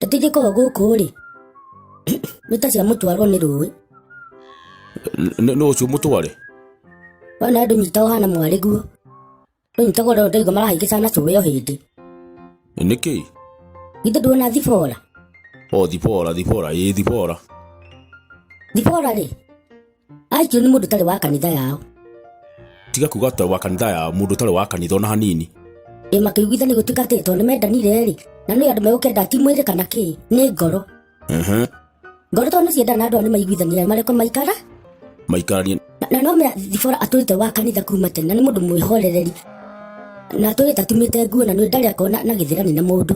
Ndingĩkorwo gũkũ-rĩ, nĩ ta cia mũtwarwo nĩ rũĩ. Nĩ ũcio mũtware? Wona andũ nyita ũhana mwarĩ guo. Ndũnyitagwo rĩo ndaigua marahĩngĩca na cũĩ o hĩndĩ. Nĩkĩ? Githĩ nduona thibora? O thibora, thibora, ĩĩ thibora. Thibora-rĩ, aikio nĩ mũndũ ũtarĩ wa kanitha yao tiga kuga atĩ wa kanitha ya mũndũ ũtarĩ wa kanitha ona hanini ĩ makĩiguithania gũtuĩka atĩ tondũ nĩ mendanire-rĩ na nĩ andũ megũkenda ti mwĩrĩ kana kĩ nĩ ngoro Ehe. ngoro tondũ nĩ ciendana na andũ aya nĩ maiguithanire marĩkũ maikara maikaranie Na- na no mea thibora atũrĩte wa kanitha kuma tene na nĩ mũndũ mwĩhorereri na atũrĩte atumĩte nguo na nĩ ndarĩ akona na gĩthĩrani na mũndũ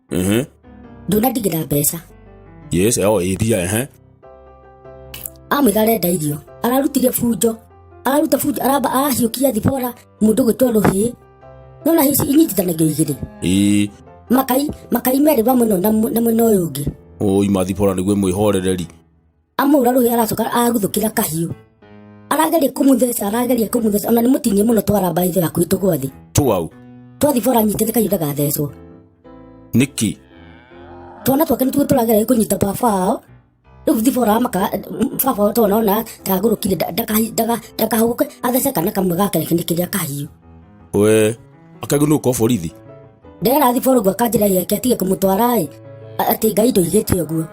ehe ndona ndigä na mbeca yes oh ĩthia ehe amwä ga arenda irio ararutire bunjo araruta bunjo aramba arahiå kia thibora må ndå gwä two rå hä no na ici inyitithanagio igä rä ĩ makai makai merä wa mwena ũyũ na mwe- na mwena å yå å ngä ũi mathibora nĩguo mwĩhorereri amũhũra rũhĩ aracoka aguthũkĩra kahiũ arageria kũmũtheca arageria kũmũtheca ona nĩ mũtinie mũno twara mbaĩ thera kwitũ gwa thĩ twau twathi bora nyitĩte kahiũ ndagathecwo nĩkĩ twana twake nĩ tuo tũrageria kũnyita baba ao rĩu thibora amaka baba ao twana ona ndagũrũkire ndakahũgũke athece kana kamwe gake nĩ kĩrĩa kahiũ we akaigu nä å korwo borithi ndera thiborugu akanjĩra yake atige kũmũtwara-ĩ A- atĩ ngai ndũigĩte ũguo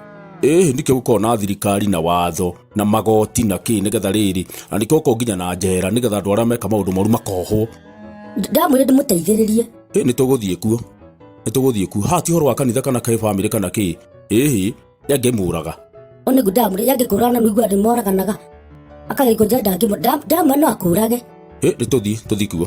ĩhĩ nĩkĩo gũkorwo na thirikari na watho na magoti na kä nä getha rä rä na nĩkĩo gũkorwo nginya na njera nä getha andå arä a meka maå ndå moru makohwo Nd- ndamwĩre ndĩmũteithĩrĩrie ä nä tå gå thiä kuo nä tå gå thiä kuo haha ti horo wa kanitha kana kä bamä rä kana kä ĩhĩ yangä må raga onegu ndamwĩre yangĩkũraga na mĩigua andũ moraganaga akagĩkũnja ndangĩmũ ndamwĩre no akũrage ä nä tå thiä tå thiä kuo